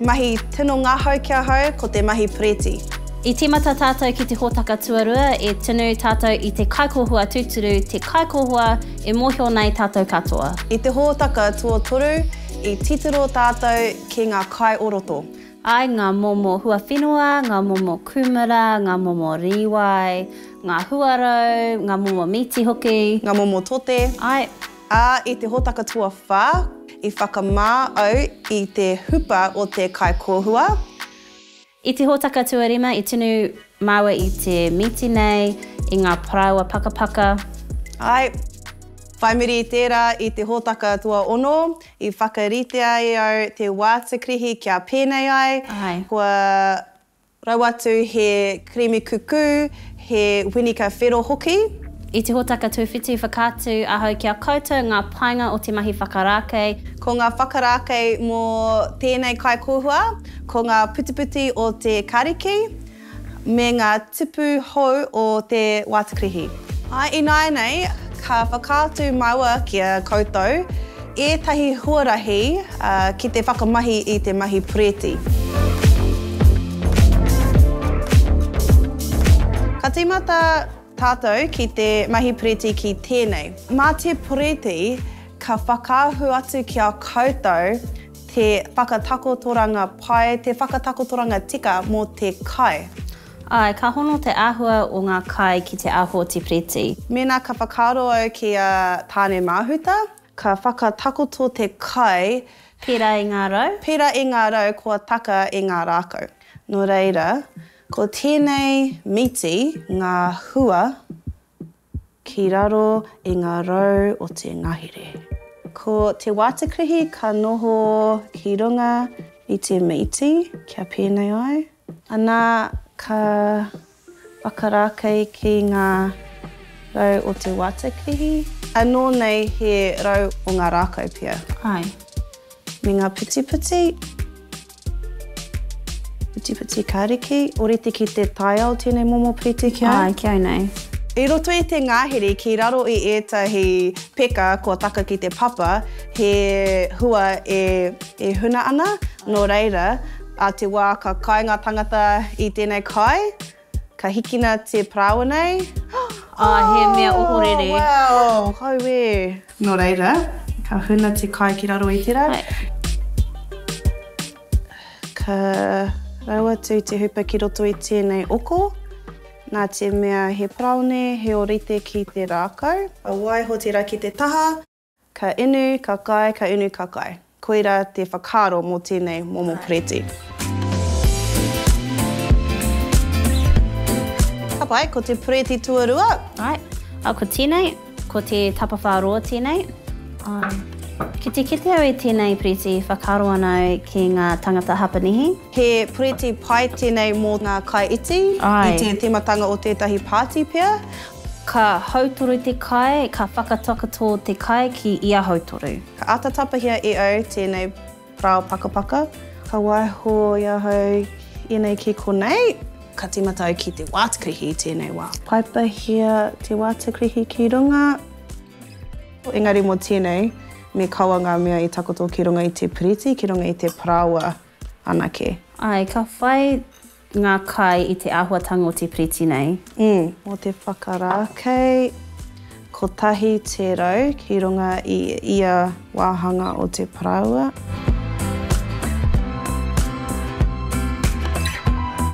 Mahi tino ngahau ki ahau ko te mahi Preti. I tīmata tātou ki te hōtaka tuarua e tunu tātou i te kaikōhua tūturu, te kaikōhua e mōhio ana e tātou katoa. I te hōtaka tuatoru i titiro tātou ki ngā kai o roto. Ai ngā momo huawhenua, ngā momo kūmara, ngā momo rīwai, ngā huarau, ngā momo mīti hoki. Ngā momo tote. Ai. Ā, i te hōtaka tuawhā, i whakamā au i te hupa o te kaikōhua. I te hōtaka tuarima, i tunu māua i te mīti nei, i ngā parāoa pakapaka. Āe. Whai muri i tērā, i te hōtaka tuaono, i whakaritea e au te wātakrihi kia pēnei ai. Āe. Kua Raua atu he kirimi kukū, he winika whero hoki. I te hōtaka tuwhiti whakaatu ahau ki a koutou ngā painga o te mahi whakarākei. Ko ngā whakarākei mō tēnei kaikōhua ko ngā putiputi o te kariki me ngā tupu hou o te wātukrihi. Ināianei ka whakaatu māua ki a koutou Ētahi huarahi ki te whakamahi i te mahi Pureti. Ka tīmata tātou ki te mahi Pureti ki tēnei. Mā te Pureti ka whakaahu atu ki a koutou te whakatakotoranga pai, te whakatakotoranga tika mō te kai. Āe, ka hono te āhua o ngā kai ki te aho o te Piriti. Mēnā ka whakaaro au ki a Tāne-māhuta, ka whakatakoto te kai. Pērā i ngā rau? Pērā i ngā rau kua taka i ngā rākau. Nō reira, ko tēnei miti ngā hua. Ki raro i ngā rau o te ngahere. Ko te wātekrihi ka noho ki runga i te mīti kia pēnei ai. Anā, ka whakarākei ki ngā rau o te wātekrihi. Anō nei he rau o ngā rākau pea. Āe. Me ngā putiputi. Putiputi ka riki, oriti ki te taiao tēnei momo piriti ki au? Āe, ki au nei. I roto i te ngahere ki raro i ētahi peka kua taka ki te papa, he hua e huna ana, nō reira, ā te wā ka kai ngā tāngata i tēnei kai, Ka hikina te parāoa nei. Ā, he mea ohorere. Oh, wow! Auē! Nō reira, ka huna te kai ki raro i te rā. Ka rau atu te hupa ki roto i tēnei oko. Nā te mea he paraone, he ōrite ki te rākau. Ka waiho tērā ki te taha. Ka inu, ka kai, ka inu, ka kai. Koira te whakaaro mō tēnei momo poreti. Ka pai, ko te poreti tuarua. Ai, a ko tēnei, ko te tapawhā roa tēnei. Ai. Ki te kite au i tēnei poreti, whakaaro ana au ki ngā tangata Hapanihi. He poreti pai tēnei mō ngā kai iti. Ai. I te tīmatanga o tētahi pāti pea. Ka hautoru te kai, ka whakatakoto te kai ki ia hautoru. Ka āta tapahia e au tēnei parao pakapaka. Ka waiho i ahau ēnei ki konei. Ka tīmata au ki te wātakrihi i tēnei wā. Paipahia te wātakrihi ki runga. Engari mō tēnei, me kaua ngā mea i takoto ki runga i te piriti, ki runga i te parāoa anake. Āe, ka whai Ngā kai i te āhuatanga o te piriti nei. Ii, mō te whakarākei kotahi tērau ki runga i ia wāhanga o te paraua.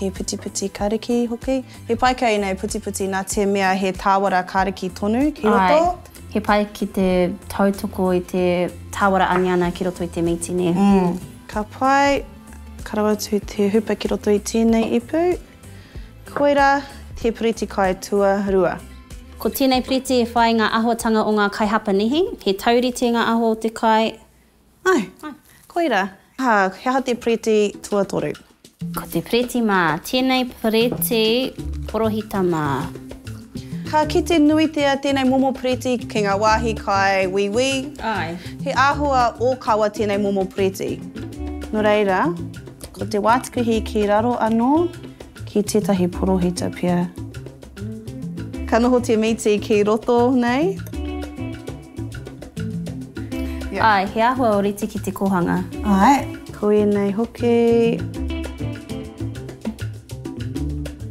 He putiputi kariki hoki. He pai kei nei putiputi nā te mea he tāwara kariki tonu ki roto. Āe, he pai ki te tautoko i te tāwara aniana ki roto i te mītini. Ka pai. Ka rawe atu te hupa ki roto i tēnei ipu. Koirā te piriti kai tuarua. Ko tēnei piriti e whai ngā ahotanga o ngā kai Hapanihi. He taurite ngā aho o te kai. Ai, koirā. Ā, he aha te piriti tuatoru? Ko te piriti mā. Tēnei piriti porohita mā. Ka kite nuitia tēnei momo piriti ki ngā wāhi kai wīwī. Āe. He āhua ōkawa tēnei momo piriti. Nō reira, ko te wātikuhi ki raro anō ki tētahi porohita pea. Ka noho te mīti ki roto nei. Āe, he āhua ōrite ki te kōhanga. Āe. Ko ēnei hoki.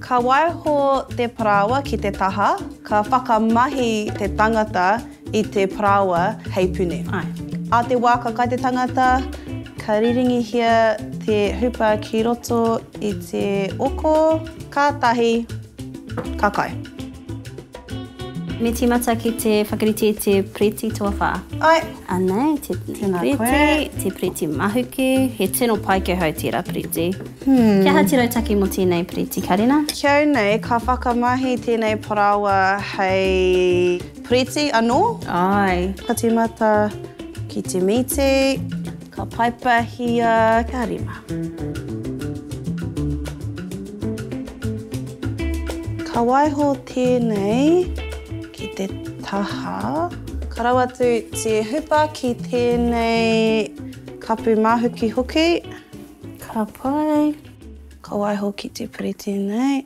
Ka waiho te parāoa ki te taha, ka whakamahi te tangata i te parāoa hei puni. Āe. Ā te wā ka kai te tangata, ka riringihia te hupa ki roto i te oko, kātahi ka kai. Me tīmata ki te whakarite i te Preti tuawhā. Ae. Anei, te Preti, te Preti mahuki. He tino pai ki ahau tērā Preti. Hmm. Kia hati rautaki mō tēnei Preti karena? Ki au nei, ka whakamahi tēnei parāoa hei Preti anō. Ae. Ka tīmata ki te mīti. Ka paipahia ka rima. Ka waiho tēnei ki te taha. Ka rau atu te hupa ki tēnei kapu māhukihuki. Ka pai. Ka waiho ki te piriti nei.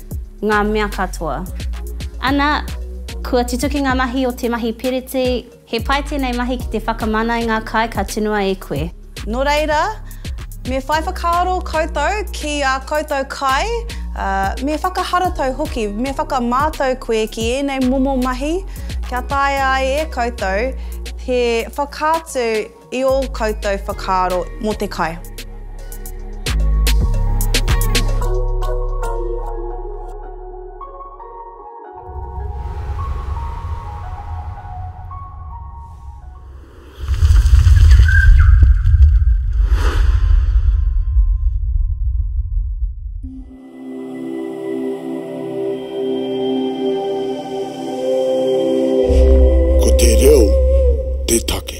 ngā mea katoa. Ana, kua tutuki ngā mahi o te mahi piriti, he pai tēnei mahi ki te whakamana i ngā kai ka tunua e koe. Nō reira, me whai whakaaro koutou ki ā koutou kai, ā, me whakaharatau hoki, me whakamātau koe ki ēnei momo mahi kia taea ai e koutou te whakaatu I ō koutou whakaaro mō te kai. Ko te reo te take.